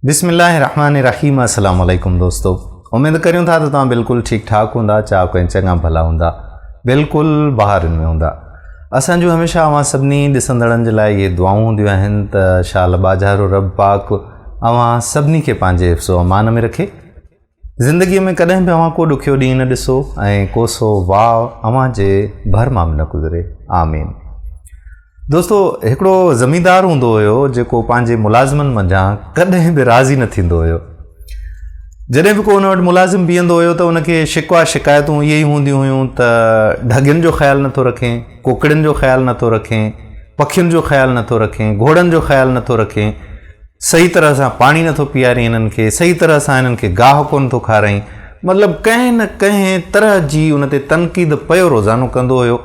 بسم الله الرحمن الرحيم السلام عليڪم دوستو اميد ڪريون ٿا ته توهان بلڪل ٺيڪ ٺاڪ هوندا چاڪ ۽ چڱا ڀلا هوندا بلڪل بهارن ۾ هوندا اسان جون هميشه اوهان سڀني ڏسندڙن جي لاء اهي دعائون هونديون آهن ته شال باجهارو رب پاڪ اوهان سڀني کي پنهنجي حفظ و امان ۾ رکي زندگيء ۾ ڪڏهن به اوهان ڪو ڏکيو ڏينهن نه ڏسو ۽ ڪوسو واء اوهان جي ڀر مان به نه گذري. آمين. دوستو هڪڙو زميندار هوندو هيو جيڪو پنهنجي ملازمن منجهان ڪڏهن به راضي نه ٿيندو هيو. جڏهن به ڪو ان وٽ ملازم بيهندو هيو ته ان کي شڪوا شڪايتون اهي ئي هونديون هيون ته ڍڳين جو خيال نه ٿو رکين، ڪوڪڙين جو خيال نه ٿو رکين، پکين جو خيال نه ٿو رکين، گهوڙن جو خيال نه ٿو رکين، صحيح طرح سان پاڻي نٿو پيارين هنن کي، صحيح طرح سان هنن کي گاهه ڪونه ٿو کارائين، مطلب ڪنهن نه ڪنهن طرح جي ان تي تنقيد پيو روزانو ڪندو هيو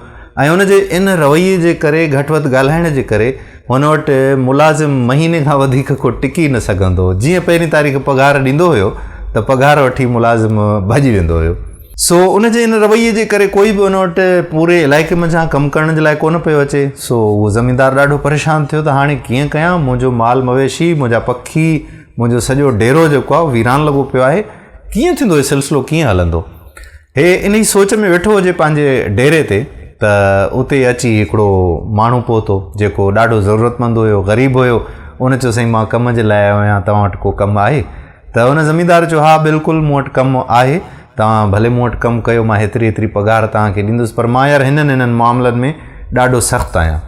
۽ ان جي ان رويي جي ڪري گهٽ وڌ ڳالهائڻ جي ڪري هن وٽ ملازم مهيني کان وڌيڪ ڪو ٽڪي نه سگهندو هو جيئن پهرين تاريخ پگهار ڏيندو هيو ته پگهار وٺي ملازم ڀڄي ويندو هيو. سو ان جي ان رويي جي ڪري ڪوئي به ان وٽ پوري علائقي منجهان ڪم ڪرڻ جي لاء ڪونه پيو اچي. سو اهو زميندار ڏاڍو پريشان ٿيو ته هاڻي ڪيئن ڪيان، منهنجو مال مويشي، منهنجا پکي، منهنجو سڄو ڊيرو جيڪو آهي اهو ويران لڳو پيو آهي، ڪيئن ٿيندو هي سلسلو ڪيئن هلندو. هي انهي سوچ ۾ ويٺو هجي پنهنجي ڊيري تي ته اتي اچي هڪڙو ماڻهو پهتو جيڪو ڏاڍو ضرورتمند هيو، غريب هيو، ان چيو سائين مان ڪم جي لاء آيو آهيان توهان وٽ ڪو ڪم آهي. ته ان زميندار چيو، ها بلڪل مون وٽ ڪم آهي، توهان ڀلي مون وٽ ڪم ڪيو، مان هيتري هيتري پگهار توهان کي ڏيندس، پر مان يار هنن هنن معاملن ۾ ڏاڍو سخت آهيان.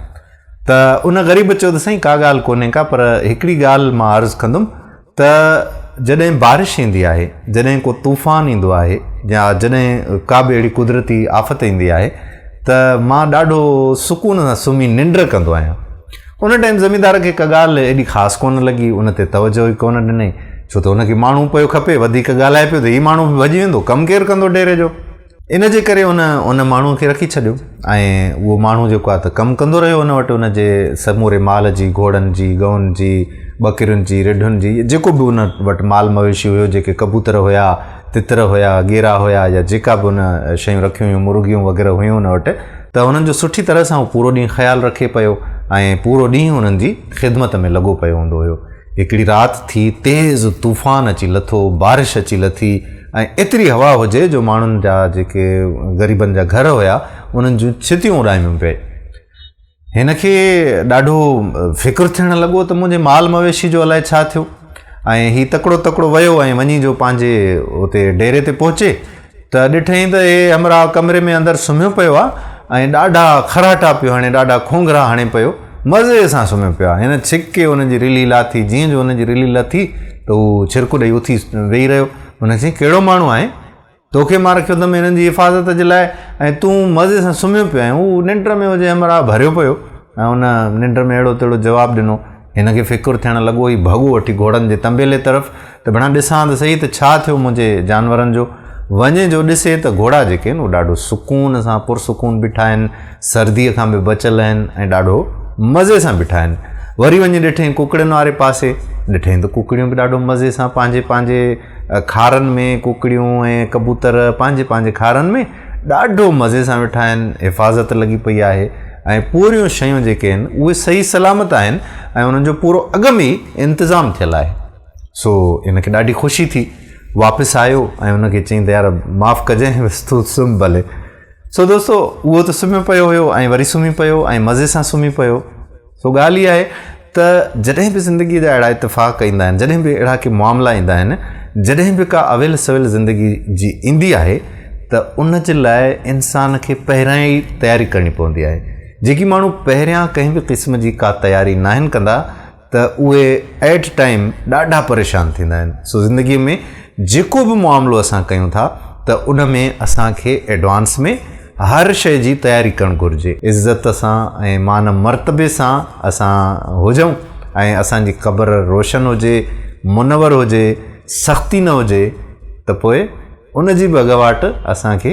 ته ان غريب چيو ته سائين ڪا ڳالهه ڪونهي ڪا پر هڪڙي ڳالهه مان عرض ڪندم ته جڏهن بارش ايندي آهي، جڏهن ڪو طوفان ايندو آهي يا جڏهن ڪا به اهڙي قدرتي آفت ايندي آهي ته مان ڏاڍو سڪون سان سمهي ننڊ ڪندو آهيان. ان ٽائيم زميندار کي ڪا ڳالهه ايڏي خاص ڪونه لڳي، ان تي توجهه ئي ڪونه ڏنائين، ڇو ته ان کي ماڻهو پيو کپي، وڌيڪ ڳالهائي پيو ته هي ماڻهو به ڀڄي ويندو، ڪم ڪير ڪندو ڊيري جو؟ ان جي ڪري هن ان ماڻهوء کي رکي ڇڏيو ۽ اهو ماڻهو جيڪو آهي ته ڪم ڪندو رهيو ان وٽ ان جي سموري مال جي، گهوڙن جي، ڳئن جي، ٻڪرين جي، رڍن جي، جيڪو به ان وٽ مال مويشي هيو، جيڪي ڪبوتر هيا، تتر هيا، ڳيرا هيا يا جيڪا به هن شيون رکيون هيون، مرغيون وغيره هيون هن وٽ ته هنن جو سٺي طرح سان هو پورو ڏينهن خيال رکي پيو ۽ پورو ڏينهن هنن جي خدمت ۾ لڳو پيو هوندو هيو. هڪڙي رات ٿي تيز طوفان اچي لٿو، بارش اچي لٿي ۽ ايتري هوا هجي جو ماڻهن جا جيڪي غريبن جا گهر هيا انهن جون ڇتيون اڏاميون پئي. هن کي ڏاڍو فڪر ٿيڻ لڳو ته منهنجي مال مويشي جو الائي ڇا ٿيو ۽ هي تڪڙو تڪڙو ويو ۽ وڃي جو پنهنجي اتي ڊيري تي پهچي ته ڏٺئين ته هي همراهه ڪمري ۾ اندر سمهيو پيو آ ۽ ڏاڍا کراٽا پيو هڻي ڏاڍا کونگرا هڻي پيو مزي سان سمهيو پيو آ هن ڇڪي هن جي رلي لاٿي جيئن جو هن جي رلي لٿي ته هو ڇرڪو ڏئي اٿي ويهي رهيو هن چيائين ڪهڙو ماڻهو آهين توکي مان رکيو اٿم هنن جي حفاظت جي لاء ۽ تون مزي سان سمهيو پيو آهين. هو ننڊ ۾ هجي همراهه ڀريو پيو ۽ هن ننڊ ۾ اهڙو تهڙو جواب ڏنو. هن کي فڪر ٿيڻ لڳو هي ڀڳو وٺي گهوڙن جي تنبيلي طرف ته ڀيڻا ڏسان ته سهي ته ڇا ٿيو منهنجي جانورن جو. وڃي جو ڏسي ته گهوڙا جيڪي آهن اهي ڏاڍو سڪون سان پرسڪون بيٺا آهن، سرديء کان به بچيل آهن ۽ ڏاڍو مزي سان بيٺا آهن. وري وڃي ڏٺئين ڪڪڙين واري پاسي. ڏٺئين ته ڪڪڙيون به ڏاڍو مزي سان پنهنجي پنهنجي. خارن ۾ ڪڪڙيون ۽ ڪبوتر پنهنجي پنهنجي خارن ۾ ڏاڍو مزي سان ويٺا آهن حفاظت لڳي پئي آهي ۽ پوريون شيون جيڪي آهن اهي صحيح سلامت آهن ۽ انهن جو پورو اڳ ۾ ئي انتظام ٿيل آهي سو ان کي ڏاڍي خوشي ٿي واپس آيو ۽ ان کي چيائين ته يار معاف ڪجانء بس تو سم ڀلي سو دوستو اهو ته سمهيو پيو هيو ۽ وري سمهي پيو ۽ مزي سان سمهي پيو سو ڳالهه اها آهي ته جڏهن به زندگيء جا اهڙا اتفاق ايندا آهن، جڏهن به اهڙا ڪي معاملا ايندا آهن، جڏهن به ڪا اويل سويل زندگي جي ايندي آهي ته ان جي لاء انسان کي پهريان ئي تياري ڪرڻي پوندي آهي. جيڪي ماڻهو پهريان ڪنهن به قسم جي ڪا تياري ناهن ڪندا ته اهي ائٽ ٽائيم ڏاڍا پريشان ٿيندا آهن. سو زندگيء ۾ جيڪو به معاملو اسان ڪيون ٿا ته ان ۾ اسان کي ايڊوانس ۾ هر شيء جي تياري ڪرڻ گهرجي. عزت سان ۽ مان مرتبي سان اسان هجون ۽ اسان جي قبر روشن هجي، منور هجي، سختي نه هجي ته پوء ان جي به اڳواٽ اسان کي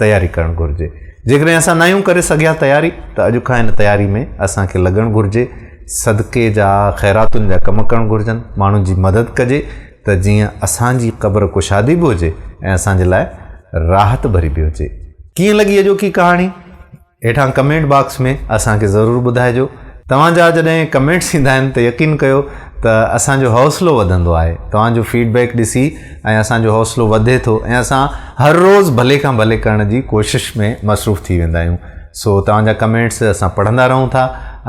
تياري ڪرڻ گهرجي. جيڪڏهن اسان ناهيون ڪري سگهيا تياري ته اڄ کان ان تياري ۾ اسان کي لڳڻ گهرجي. صدقي جا، خيراتن جا ڪم ڪرڻ گهرجن، ماڻهن جي مدد ڪجي. ته جيئن اسان جي قبر ڪشادي به هجي ۽ اسان جي لاء راحت ڀري به هجي. ڪيئن لڳي اڄوڪي ڪهاڻي؟ هيٺان ڪمينٽ باڪس ۾ اسان کي ضرور ٻڌائجو. توهان جا جڏهن ڪمينٽس ايندا آهن ته يقين ڪيو ته اسان جو حوصلو وڌندو آهي. توهان جو فيڊ بيڪ ڏسي ۽ اسان جو حوصلو وڌي ٿو ۽ اسان هر روز ڀلي کان ڀلي ڪرڻ جي ڪوشش ۾ مصروف ٿي ويندا آهيون. سو توهان جا ڪمينٽس اسان پڙهندا رهون ٿا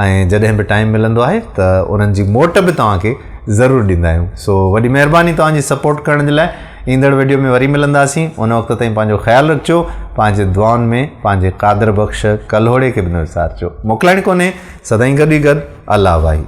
۽ جڏهن به ٽائيم ملندو آهي ته انهن جي موٽ به توهان کي ضرور ڏيندا آهيون سو وڏي مهرباني توهان جي سپورٽ ڪرڻ جي لاء ايندڙ ويڊيو ۾ وري ملنداسين ان وقت تائين پنهنجو خيال رکجو پنهنجي دعائن ۾ پنهنجي قادر بخش ڪلهوڙي کي به نه وسارجو موڪلائڻ ڪونهي سدائين گڏ ئي گڏ الله واهي